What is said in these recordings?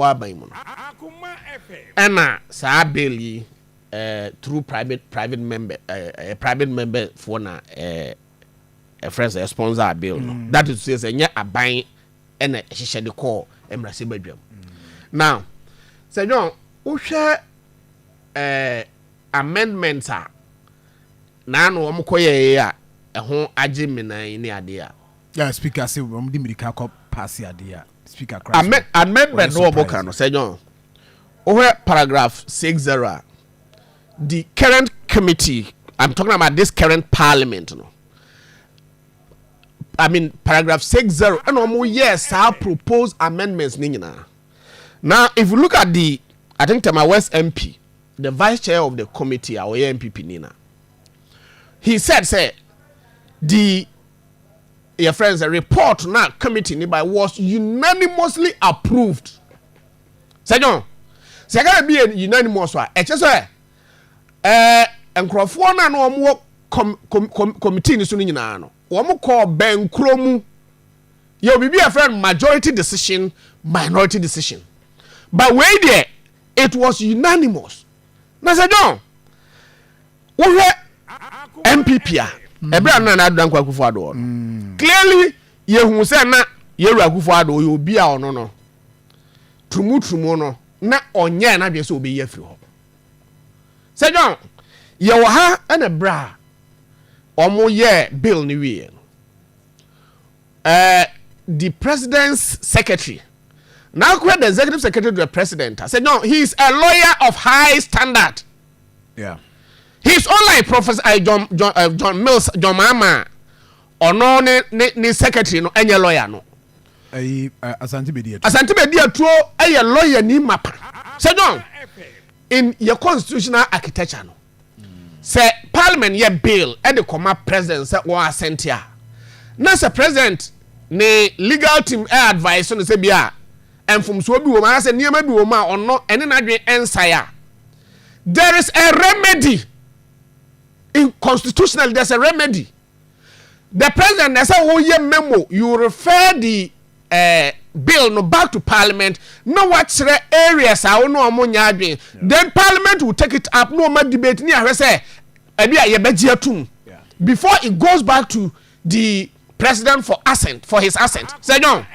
wɔ aban mu no. Ɛna saa bill yi eh, through private private member eh, eh, private member foɔ na eh, eh, friends eh, sponsor bill no. Mm. That is to say sɛ nyɛ aban ɛna ɛhyehyɛ de kɔɔ mmarahyɛ badwam. Mm. Now sɛ nyɔn wohwɛ eh, amendment a naano wɔn kɔyɛɛ a ɛho agye mmenan ne adeɛ a. Yeah, speaker se wɔn de mirika kɔ paase adeɛ a. Amɛ amendment no ɔmo ka no, sɛ John, wo hwɛ paragraph six zero a, the current committee, I'm talking about this current parliament no, I mean paragraph six zero, ɛna ɔmo yɛ saa proposed amendments ne nyinaa. Now if you look at the, I think Tema West MP, the vice chair of the committee a ɔyɛ NPP ni na, he said sɛ the yɛfrɛ no sɛ report no a committee no bae was unanimously approved sɛ dwon sɛ ɛka baabi yɛ unanimous a ɛkyɛ sɛ ɛɛ nkurɔfoɔ no a na wɔn wɔ com com com committee no so no nyinaa no wɔn kɔɔ bɛnkuro mu yɛ obi bi a yɛfrɛ no majority decision minority decision but wei deɛ it was unanimous na sɛ dwon wohwɛ npp a ɛberɛ a no nana adra nkwa akufo adoɔ no mm. clearly yɛhu sɛ na yɛwura akufo adoɔ yɛ obi a ɔno no turumuturumu no na ɔnyɛɛ no adwene sɛ ɔbɛyi afiri hɔ sɛ john yɛwɔ ha ɛna berɛ a wɔyɛɛ bill no wieɛ no ɛɛ the president's secretary na akora the executive secretary to the president sɛ john he is a lawyer of high standard Yeah. His own like Professor uh, John John uh, John Mills John Mama ɔno ne ne ne secretary no ɛnyɛ lawyer no. Ayi uh, Asante Bedi Atuo. Asante Bedi Atuo ɛyɛ lawyer ni mapa. Sɛ John in yɛ constitutional architecture no sɛ parliament yɛ bill ɛde kɔma president sɛ wɔn asɛnti a na sɛ president ne legal team ɛ advice no sɛ bi a mfomsoɔ bi wɔ mu anaasɛ nneɛma bi wɔ mu a ɔno ɛne n'adwene ɛnsae a. There is a remedy in constitutionally there's a remedy. The president na sɛ woyɛ memo you refer the uh, bill no back to parliament na wakyerɛ areas a wo ne ɔmo nyɛ adwene then parliament will take it up na ɔma debate ne ahwɛ sɛ ɛbi a yɛbɛgye atum before it goes back to the president for assent for his assent sɛ john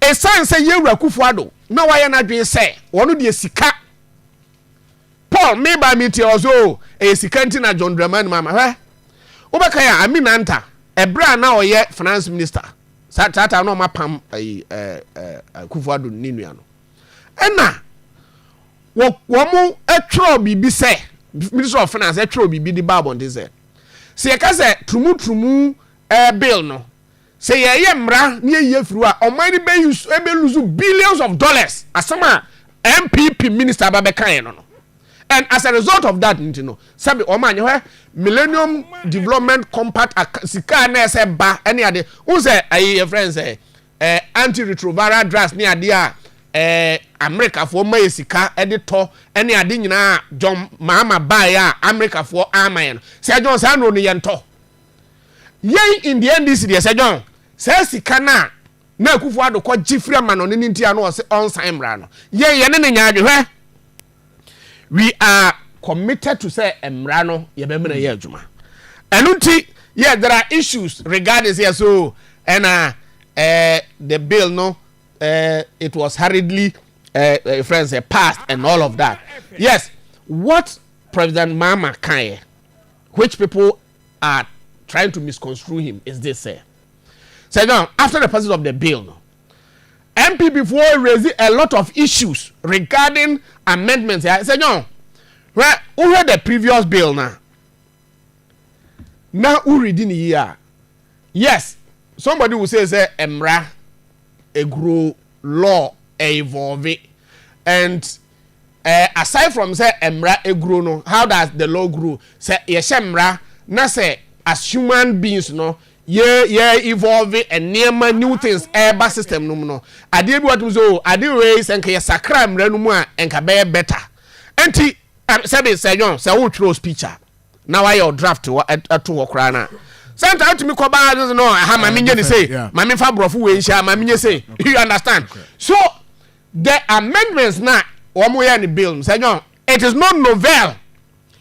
ɛsan sɛ yɛwura kufu ado Ná wayɛ n'adwene sɛ ɔno deɛ sika. Paul, me baa me nti a ɔsɛ o, ɛyɛ sika nti na John Dramani maa me. Hwɛ, wobɛka yɛ a, Ami Nanta, ɛberɛ a na ɔyɛ finance minister, saa saa time na wɔn apam ɛyi ɛɛ ɛɛ Akufo Addo ne nua no. Ɛna wɔ wɔn ɛtwerɛ biribi sɛ, Ministry of Finance ɛtwerɛ biribi de baa abɔnten sɛ, sɛ yɛka sɛ turumu turumu ɛɛ bill no, Sɛ yɛyɛ mmara na yɛyi afiri hɔ a, ɔman no bɛ use ɛbɛ lose billions of dollars. Asɛm a NPP minister aba bɛkaeɛ no no. And as a result of that nti no, sɛbe wɔn anyɛ hɔ Millennium Development Compact ac sika a na ɛsɛ ba ne ade. Wohu sɛ ayi yɛfrɛ no sɛ eh, antiretroviral drugs ne adeɛ a eh, Amerikafoɔ ma yɛ sika de tɔ ne ade nyinaa a John Mahama baeɛ a Amerikafoɔ ama yɛ no. Sɛ John saa nnuro no yɛntɔ. Yɛn in the NDC deɛ sɛ John saa sika no a na Akufo Addo kɔ gye firi amanɔne no nti a na ɔse ɔnsan mmra no yɛn yɛne no nyɛ adwe hwɛ we are committed to sɛ mmra no yɛbɛmena yɛ adwuma ɛno nti yɛ there are issues regarding sɛ so ɛna eh, the bill no eh, it was hurriedly eh, eh, friends eh, passed and all of that yes what President Mama Kanye which people are trying to misconstrue him is this sɛ sɛ now after the passage of the bill no npp foɔ raise a lot of issues regarding amendments ya sɛ now hwɛ wohwɛ the previous bill na na woredi ne yie a yes somebody will say sɛ mmara ɛguro law ɛevolve and Eh aside from sɛ mmra ɛguro no how does the law grow sɛ yɛhyɛ mmra na sɛ as human beings no yɛ yɛ evolve nneɛma new things ɛɛba system no mu no adeɛ bi wɔ tum sɛ oo ade wei sɛ nka yɛsakra mmra no mu a nka bɛyɛ better nti sɛbi sɛ yɔn sɛ wo twerɛ speech a na wayɛ o draft wɔ ɛto hɔ koraa na sɛnta wotumi kɔ baa no no aha ma menyɛ ne sei ma memfa borɔfo wei nhyɛ ma menyɛ sei you understand so The amendments no a wɔyɛɛ no bill no, sɛ nyɛ wɔn, it is not novel.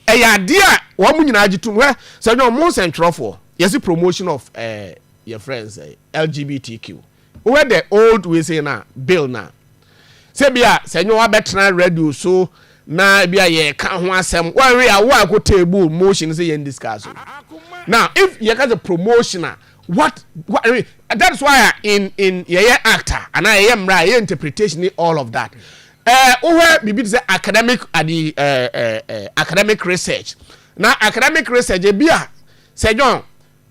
Ɛyɛ adeɛ a wɔn nyinaa gye tom. Hwɛ, sɛ nyɛ wɔn, mo nsɛntwerɛfoɔ, yɛsi promotion of eh, your friends, eh, LGBTQ. Wohwɛ the old we say na bill na. Sɛ bi a, sɛ nyɛ wɔn abɛtena radio so, na bi a yɛka ho asɛm, wɔn we a, wɔn a ɛkɔ table motion sɛ yɛn discuss. Now, if yɛka sɛ promotion a, What what eh, that is why in in yɛyɛ actor anaa yɛyɛ mmara yɛyɛ interpretation ne all of that ɛɛ eh, wohwɛ biribi te sɛ academic adi ɛɛ eh, ɛɛ eh, eh, academic research na academic research ebi a sɛ john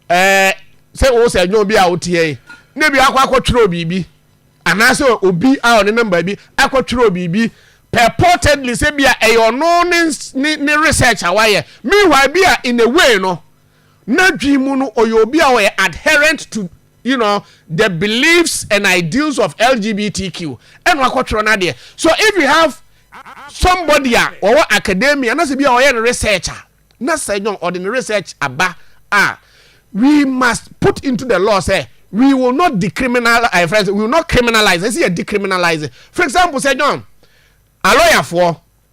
ɛɛ sɛ wo sɛ john bi a woteɛ yi na ebi akɔ akɔtwerɛ biribi anaasɛ obi a ɔne namba bi akɔtwerɛ biribi purportedly sɛ bi a ɛyɛ ɔno ne ne research a wayɛ meanwhile bi a in a way no. N'adwene mu no, ɔyɛ obi a ɔyɛ adherent to you know, the beliefs and ideals of LGBTQ, ɛna wakɔtwerɛ n'adeɛ. So if you have somebody a ɔwɔ academia, na sɛ bi a ɔyɛ no research a, na sɛ nyɔn ɔde ne research aba a, we must put into the law sɛ we will not decriminal, eh, friends, we will not criminalize, ɛsɛ yɛ decriminalize. For example, sɛ nyɔn, alɔyafoɔ,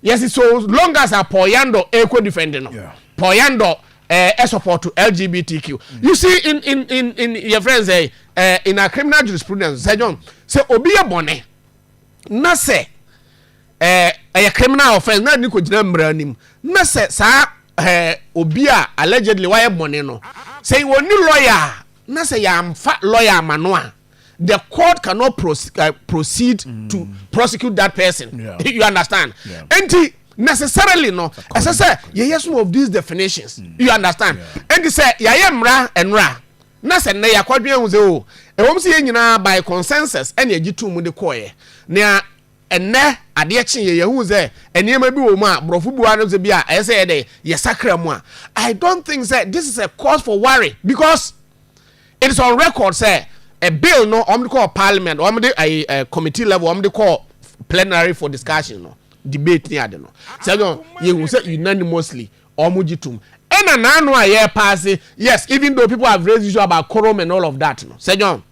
Yes so long as a Paul Yandor ɛkɔ defend no yeah. Paul Yandor eh, eh, support to LGBTQ mm. you see in in in in your friends eh, eh, in our criminal jurisprudence sɛ John sɛ obi yɛ bɔnɛ na sɛ eh, ɛyɛ eh, criminal offence na ne ko gyina mmara anim na sɛ saa eh, obi a allegedly wayɛ bɔnɛ no sɛ wɔn ni lawyer na sɛ yɛamfa lawyer ama no a. the court cannot proceed, uh, proceed mm. to prosecute that person yeah. you understand yeah. nti necessarily no ɛsɛ sɛ yɛyɛ some of these definitions mm. you understand yeah. nti sɛ yɛayɛ mmara nnora na sɛ nnɛ yɛakɔdwen ho sɛ o oh, ɛwɔm sɛ yɛn nyinaa by consensus ɛne agye to mu de kɔɔeɛ nea ɛnɛ adeɛ kye yɛ yɛhu sɛ nneɛma bi wɔ mu a borɔfo bua no sɛ bi a ɛyɛ sɛ yɛde yɛsakra mu a i don't think sɛ this is a cause for worry because It is on record sɛ a bill no wɔn de kɔɔ parliament, wɔn de ayi ɛ eh, committee level, wɔn de kɔɔ plenary for discussion no, debate ni ade no. Sɛ no yehu sɛ unanimously wɔn gye tum. Ɛna n'ano a yɛ paase, yes, even though people have raised issue about quorum and all of that no. Sɛ John,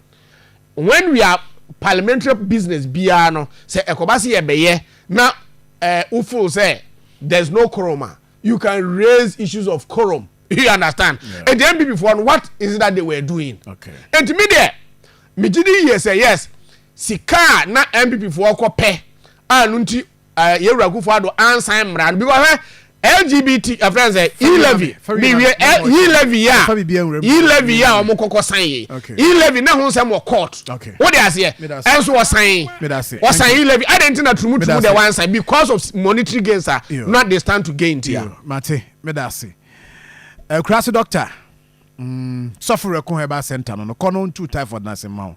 when we are parliamentary business biara no, sɛ ɛkɔba se yɛbɛyɛ na ɛɛ eh, wofo sɛ there's no quorum a, you can raise issues of quorum. you understand yeah. nti npp foɔ no what is it that they were doing okay. nti mi deɛ megye di yie sɛ yes sika a na npp foɔ kɔ pɛ a no nti eh, yɛwura kufoɔ ado ansan mmara no bi wɔhwɛ lgbt ɛfrɛ sɛ elevi miwie elevi a elevi a wɔn kɔkɔ san yi elevi na ho nsɛm wɔ court o de aseɛ ɛnso ɔsan ɔsan elevi adi nti na turumu turumu de wansan because of monetary gains a not they stand to gain ti a. Meda ase. Akurase doctor, mm, Sɔfo Werɛko Herbal Center no no, kɔ no ntu typhoid no ase mma wo.